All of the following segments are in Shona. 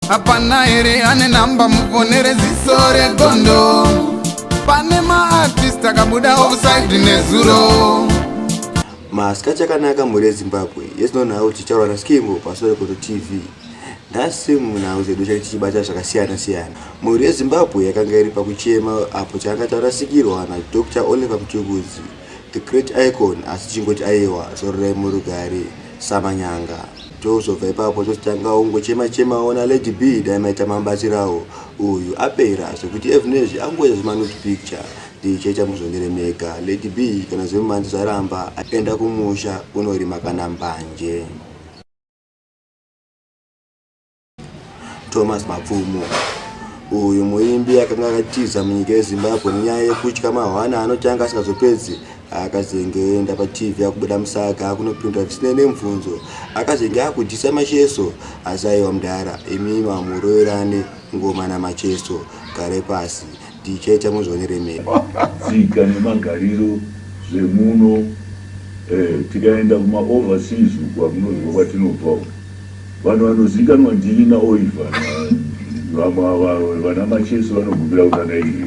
hapana here ane namba muvonere ziso regondo pane maartist akabuda offside nezuro maska chakanaka mhuri yezimbabwe yezinonhau kuti chaurwa naskimbo pasore koto tv nhasi munhau zedu chake tichibata zvakasiyana siyana mhuri yezimbabwe yakanga iri pakuchema apo chakanga charasikirwa nadr oliver mtukuzi the great icon asi chingoti aiwa zororai murugare samanyanga Tozobva ipapo tozotanga ungochema chema ona Lady B dai maita mambatsirawo uyu apera zvekuti Evnezhi angoita zvemanut picture ndichaita muzvonere mega Lady B kana zvemumanzi zvaramba aenda kumusha unorima kana mbanje. Thomas Mapfumo uyu muimbi akanga akatiza munyika yezimbabwe nenyaya yekutya mahwana anotanga asingazopedzi akazengeenda patv akubuda musaga akunopindura zvisinei nemubvunzo akazenge akudyisa macheso asi aiwa mudhara imi mamuroverane ngoma namacheso gare pasi Tichecha muzvionere mega. Tsika nemagariro zvemuno eh, tikaenda kuma overseas uku akunoziva kwatinobva uku vanhu vanozikanwa ndini naoiva vamwe ava vana machesi vanogumira kutanga iri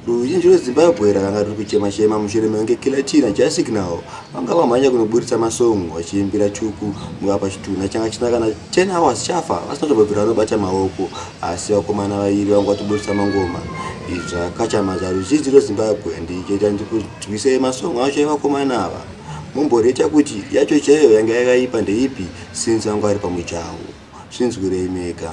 ruzhinji rwezimbabwe rakanga riri kuchema chema mushure mekunge killer china jasignal vanga vamhanya kunoburitsa masong vachiimbira chuku mukapa chitunha changa chisina kana 10 hours chafa vasina tobvira vanobata maoko asi vakomana vairi vanga vatoburitsa mangoma izvi zvakachamaza ruzhinji rwezimbabwe ndichoita ndikurwisei masongo acho evakomana ava mumboreta kuti yacho chaiyo yanga yakaipa ndeipi since vanga vari pamujaho zvinzwirei mega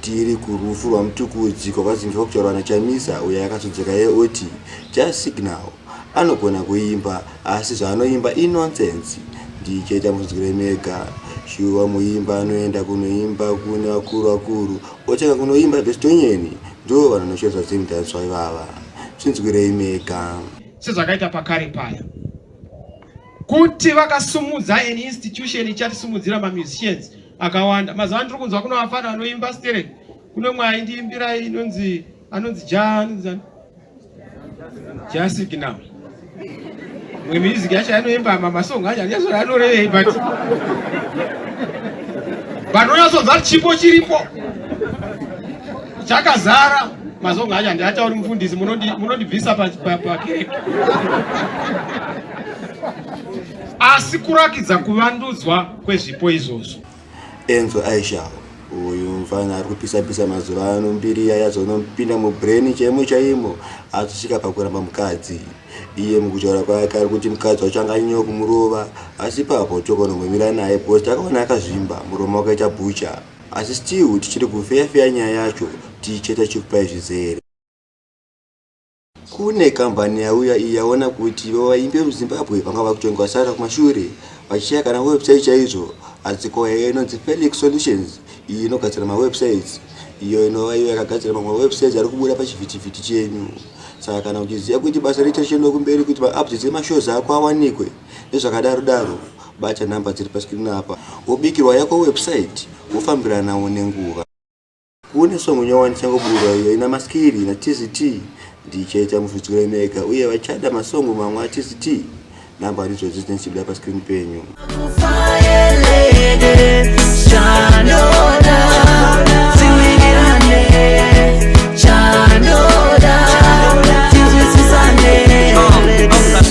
Tiri kurufu rwaMtukudzi kwakwazimbiswa kutaurwa naChamisa uyo akazodzoka iye oti Jazz Signal anogona kuimba asi zvaanoimba inonsense. DJ ita munzwire mega. Shuwa muimba anoenda kunoimba kune vakuru vakuru otanga kunoimba Bestonyeni ndivo vanhu vanoshoresa Zim Dancehall ivava. Zvinzwirei mega. Sezvakaita pakare paya kuti vakasumudza an institution ichatisimudzira mamusicians akawanda mazuva ano tiri kunzwa kuno vafana vanoimba sterek kuno mwe aindiimbira inonzi anonzi janzi jasik now mwe music yacho anoimba mamasong acho anyazoa anorevei but vanonyazonzwa chipo chiripo chakazara mazonga acho handiatauri mufundisi munondibvisa pakireke asi kurakidza kuvandudzwa kwezvipo izvozvo enzo aisha uyu mfana ari kupisapisa mazuva ano mbiri iya yazonompinda mubrain chaimo chaimo azosvika pakuramba mukadzi iye mukutaura kwake ari kuti mukadzi wacho anganyewa kumurova asi papo tokonomumira naye because takaona akazvimba muromo wakaita bhucha Asi still tichiri kufeya feya nyaya yacho tichicheta chief pai zvizere. Kune kambani yauya iyi yaona kuti vaimbi vemuzimbabwe vanga vakutongwa sara kumashure vachishaya kana website chaizvo adziko yayo inonzi felix solutions iyi inogadzira mawebsites iyo inova iyo yakagadzira mamwe mawebsites ari kubuda pachivhitivhiti chenyu saka kana uchiziva kuti basa richa richendokumberi kuti maupdates emashows ako awanikwe nezvakadaro daro bata nhamba dziri paskirini apa wobikirwa yako website wofambiranawo nenguva kune songo nyawa ndichangobuda iyo ina maskiri ina tct ndichaita mufitsikiro mega uye vachada masongo mamwe atct nhamba ndidzodzi dzinenge dzichibuda paskirini penyu